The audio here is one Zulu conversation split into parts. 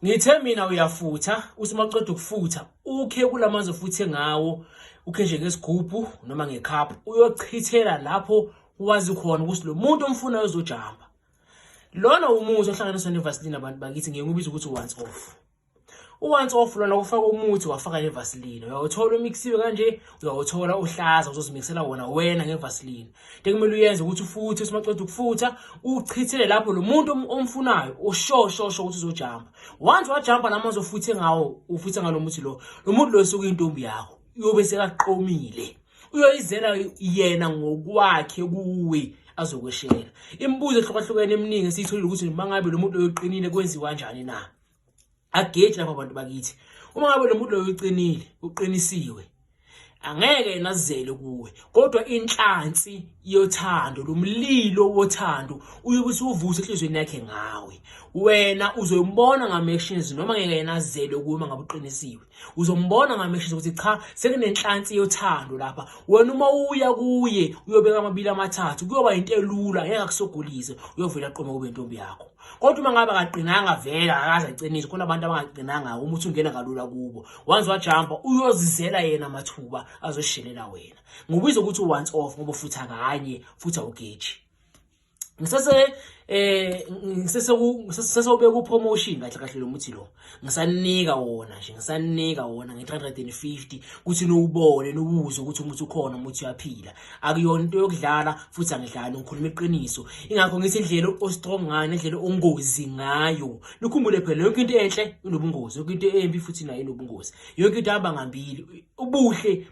Ngithe mina uyafutha uthi maqeda ukufutha ukhe kulamanzi ofuthe ngawo ukhe nje ngesigubhu noma ngecup uyochithela lapho wazi khona ukuthi lo muntu omfunayo uzojamba lona umuthi ohlanganiswa nevaseline abantu bakithi ngeke ubize ukuthi once off once off lona ufaka umuthi wafaka nevaseline uyawuthola umixiwe kanje uyawuthola uhlaza uzozimixela wona wena ngevaseline into ekumele uyenze ukuthi ufuthe simaqeda ukufutha uchithele lapho lo muntu omfunayo oshoshosho ukuthi uzojamba once wajamba nami azofuthe ngawo ufuthe ngalo muthi lo lo muntu lo suke intombi yakho uyobe sekaqomile uyoyizela yena ngokwakhe kuwe azokweshela imibuzo ehlukahlukene eminingi esiyitholile ukuthi mangabe lo muntu oyoqinile kwenziwa kanjani na ageje lapha abantu bakithi uma ngabe lo muntu loyo uqinile uqinisiwe angeke enazele kuwe kodwa inhlansi yothando lomlilo wothando uyobe usuvuse enhlizweni yakhe ngawe wena uzombona ngamactions noma ngeke yenazele kuwe ngabe uqinisiwe uzombona ngamactions ukuthi cha sekunenhlansi yothando lapha wena uma uya kuye uyobeka amabili amathathu kuyoba into elula ngeke akusogulise uyovela aqome kube intombi yakho kodwa uma ngabe akaqinanga vele akaze acinise khona abantu abangaqinanga uma uthi ungena kalula kubo once wajumpa uyozizela yena amathuba azoshelela wena ngobiza ukuthi once off ngoba futhi akanye futhi awugeji ngisese eh ngisese ngisese ubeka upromotion kahle kahle lo muthi lo ngisanika wona nje ngisanika wona nge-350 ukuthi niwubone niwuze ukuthi umuthi ukhona umuthi uyaphila akuyona into yokudlala futhi angidlali ngikhuluma iqiniso ingakho ngithi indlela ostrong ngayo nendlela ongozi ngayo nikhumbule phela yonke into enhle inobungozi yonke into embi futhi nayo inobungozi yonke into ihamba ngambili ubuhle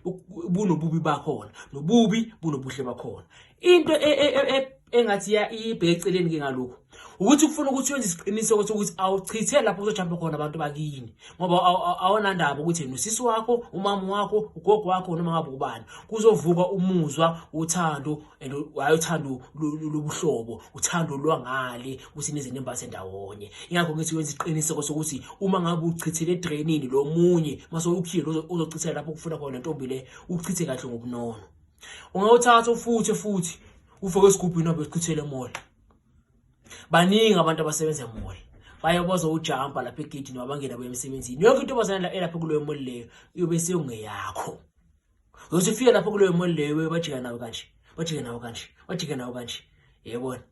bunobubi bakhona nobubi bunobuhle bakhona into e, e, e, engathi ya ibe eceleni ke ngalokho ukuthi kufuna ukuthi wenze isiqiniseko sokuthi awuchithe lapho kuzojamba khona abantu bakini ngoba awonandaba ukuthi yena usisi wakho umama wakho ugogo wakho noma ngabe ubani kuzovuka umuzwa uthando and hayi uthando lobuhlobo uthando lwangale ukuthi nezinto embase ndawonye ingakho ngithi wenza isiqiniseko sokuthi uma ngabe uchithele edrainini lo munye mase ukhile uzochithela lapho kufuna khona ntombi le uchithe kahle ngobunono ungawuthatha ufuthi futhi ufake esigubhini wabe sichithele emola baningi abantu abasebenza emola baye bazowujampa lapha egedini wabangena buya emsebenzini yonke into bazana elapha kuleyo moli leyo iyobe seyongeyakho uyothi ufike lapha kuleyo moli leyo bajika nawe kanje bajike nawe kanje bajike nawe kanje yebona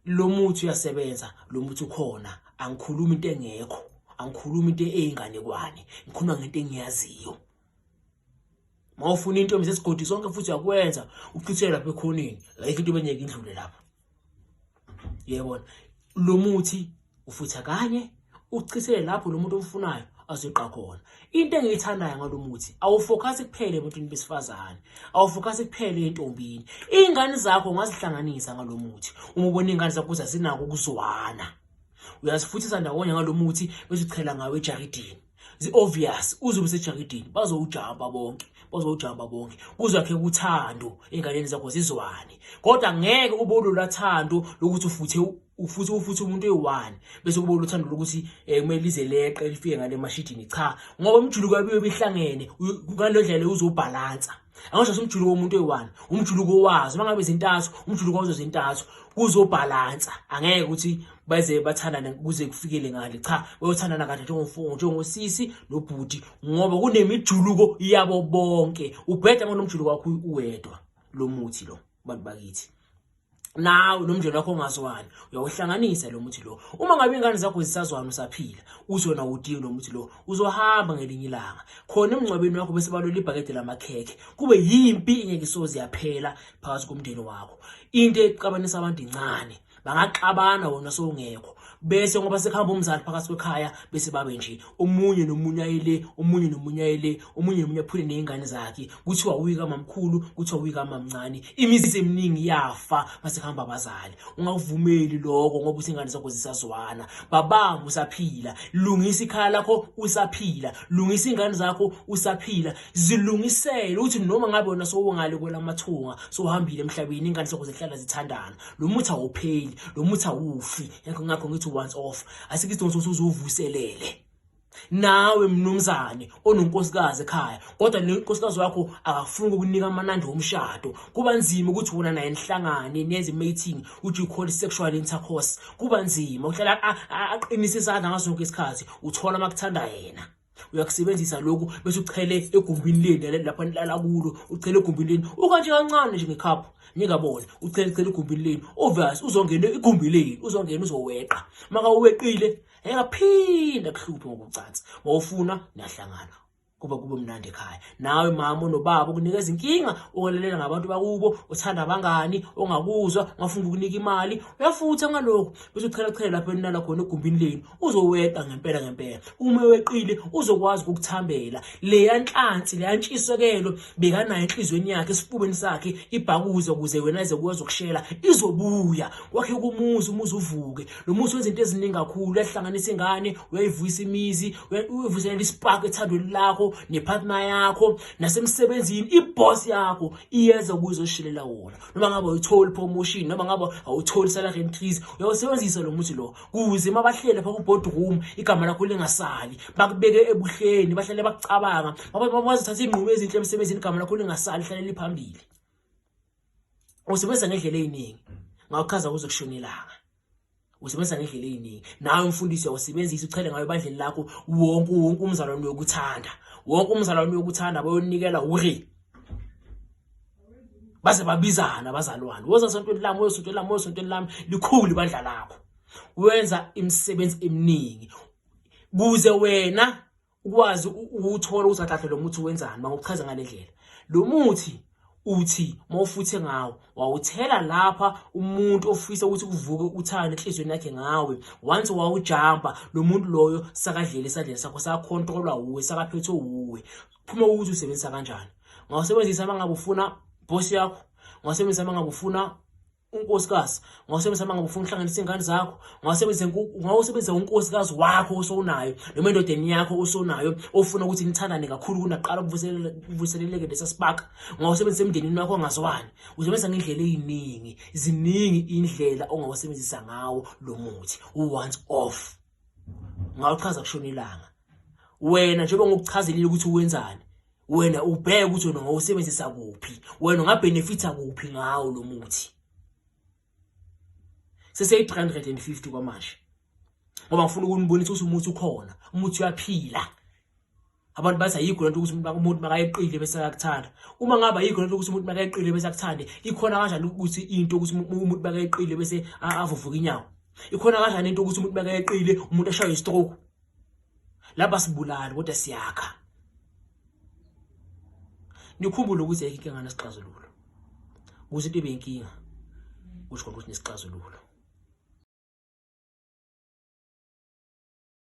lo muthi uyasebenza lo muthi ukhona angikhulumi into engekho angikhulumi into eyinganekwane ngikhuluma ngento engiyaziyo mawufuna into mse sigodi sonke futhi yakwenza uchithele lapha ekhoneni like into benyeke indlule lapha yebona lo muthi ufutha kanye uchithele lapho lo muntu omfunayo azoqa khona into engiyithandayo ngalo muthi awufocus kuphele emuntwini besifazane awufocus kuphele entombini ingane zakho ngazihlanganisa ngalo muthi uma ubona ingane zakho zazinako ukuzwana uyazifuthisa ndawonye ngalo muthi bese uchela ngawe ejaridini zi-obvious uzobe sejakidini bazowujamba bonke bazowujamba bonke kuzakhe kuthando ey'nganeni zakho zizwane kodwa ngeke ube ulula thando lokuthi ufuthe ufuthi ufuthi umuntu eyi-one bese kuba uluthando lokuthi um eh, kumele lize leqe lifike ngale mashidini cha ngoba umjuluko yabiwe behlangene ngale ndlela uzobhalansa angasho simjuluko womuntu oyi-one umjuluko wazo uma ngabe zintathu umjuluko wazo zintathu kuzobhalansa angeke ukuthi beze bathandane kuze kufikele ngale cha bayothandana kahle njengomfungo njengosisi nobhuti ngoba kunemijuluko yabo bonke ubheda ngonomjuluko wakho uwedwa lo muthi lo bantu bakithi nawe nomndeni wakho ongazwani uyawuhlanganisa lo muthi lo uma ngabe ingane zakho zisazwana usaphila uzona udingi lo muthi lo uzohamba ngelinye ilanga khona emngcwabeni wakho bese balole ibhakede lamakhekhe kube yimpi ingeke isoze yaphela phakathi komndeni wakho into exabanisa abantu incane bangaxabana wona sowungekho bese ngoba sekuhamba umzali phakathi kwekhaya bese babe nje omunye nomunye ayele omunye nomunye ayele omunye nomunye aphule nezingane zakhe kuthiwa uyika mamkhulu kuthiwa uyika mamncane imizi eminingi yafa masekuhamba abazali ungavumeli lokho ngoba usingane zakho zisazwana babanga usaphila lungisa ikhaya lakho usaphila lungisa ingane zakho usaphila zilungisele uthi noma ngabe wena sowungale kwelamathunga sohambile emhlabeni ingane zakho zihlala zithandana lo muthi awupheli lo muthi awufi yakho ngakho ngithi once off asikho isidingo sokuthi uzuvuselele nawe mnumzane ononkosikazi ekhaya kodwa le nkosikazi wakho akafuni ukukunika amanandi omshado kuba nzima ukuthi wona naye nihlangane nenze mating which you call sexual intercourse kuba nzima uhlala aqinisa isandla ngaso sonke isikhathi uthola makuthandwa yena uyakusebenzisa lokhu bese uchele egumbini leni lapho nilala kulo uchele egumbini leni ukanje kancane nje ngekhaphu ningabona uchele chele egumbini leni obvious uzongena igumbi leni uzongena uzoweqa maka uweqile engaphinda kuhluphe ngokucansa mawufuna niyahlangana kuba kube mnandi ekhaya nawe mama onobaba ukunika izinkinga ukwalelela ngabantu bakubo uthanda abangani ongakuzwa ngafuna ukunika imali uyafutha ngalokho bese uchela chela lapho enilala khona egumbini lenu uzoweqa ngempela ngempela uma weqile uzokwazi ukukuthambela leya nhlansi leya ntshisokelo bekanayo enhlizweni yakhe esifubeni sakhe ibhakuze ukuze wena ize kuwazi ukushela izobuya kwakhe kumuzi umuzi uvuke lo muzi wenza into eziningi kakhulu uyahlanganisa ingane uyayivuyisa imizi uyivuselela ispark ethandweni lakho nepartner yakho nasemsebenzini iboss yakho iyeza kuzoshilela wona noma ngabe uyithola promotion noma ngabe awutholi salary increase uyawusebenzisa lo muzi lo kuze uma bahlele pha ku-boardroom igama lakho lingasali bakubeke ebuhleni bahlale bakucabanga bazothatha iy'nqumo ezinhle emsebenzini igama lakho lingasali hlale liphambili usebenza ngendlela ey'ningi ngawuchaza kuze kushona ilanga usebenza ngendlela ey'ningi nawe mfundisi uyawusebenzisa uchele ngayo ebandleni lakho wonke wonke umzalwane uyokuthanda wonke umzalwane uyokuthanda bayonikela uri baze babizana abazalwane woza sontweni lami woza sontweni lami woza sontweni lami likhulu ibandla lakho wenza imisebenzi eminingi kuze wena ukwazi ukuthola ukuthi athathe lo muthi wenzani mangokuchaza ngale ndlela lo muthi uthi mawufuthe ngawo wawuthela lapha umuntu ofisa ukuthi kuvuke uthando enhlizweni yakhe ngawe once wawujamba lo muntu loyo sakadlela esadleni sakho sakhontrolwa wuwe sakaphethwe wuwe phuma ukuthi usebenzisa kanjani ngawusebenzisa uma ngabe ufuna boss yakho ngawusebenzisa uma ngabe ufuna unkosikazi ngawusebenzisa uma ngabe ufuna ukuhlanganisa iy'ngane zakho ngawusebenzisa unkosikazi wakho osowunayo noma endodeni yakho osowunayo ofuna ukuthi nithandane kakhulu kunaqala kuvuseleleke lesa sibaka ngawusebenzisa emndenini wakho ongazwani uzobenzisa ngendlela ey'ningi ziningi iy'ndlela ongawusebenzisa ngawo lo muthi u-once off ngawuchaza kushona ilanga wena njengoba ngokuchazelile ukuthi wenzani wena ubheke ukuthi wena ngowusebenzisa kuphi wena ungabhenefitha kuphi ngawo lo muthi sese-350 kwamanje ngoba ngifuna ukunibonisa ukuthi umuthi ukhona umuthi uyaphila abantu bathi ayikho lento ukuthi umuntu makayeqile bese akakuthanda uma ngabe ayikho lento ukuthi umuntu makayeqile bese akuthande ikhona kanjani ukuthi into ukuthi umuntu makayeqile bese avuvuka inyawo ikhona kanjani into ukuthi umuntu makayeqile umuntu ashaywe istroke laba sibulali kodwa siyakha nikhumbule ukuthi ayikho inkinga nesixazululo ukuthi into ibe inkinga kusho ukuthi nesixazululo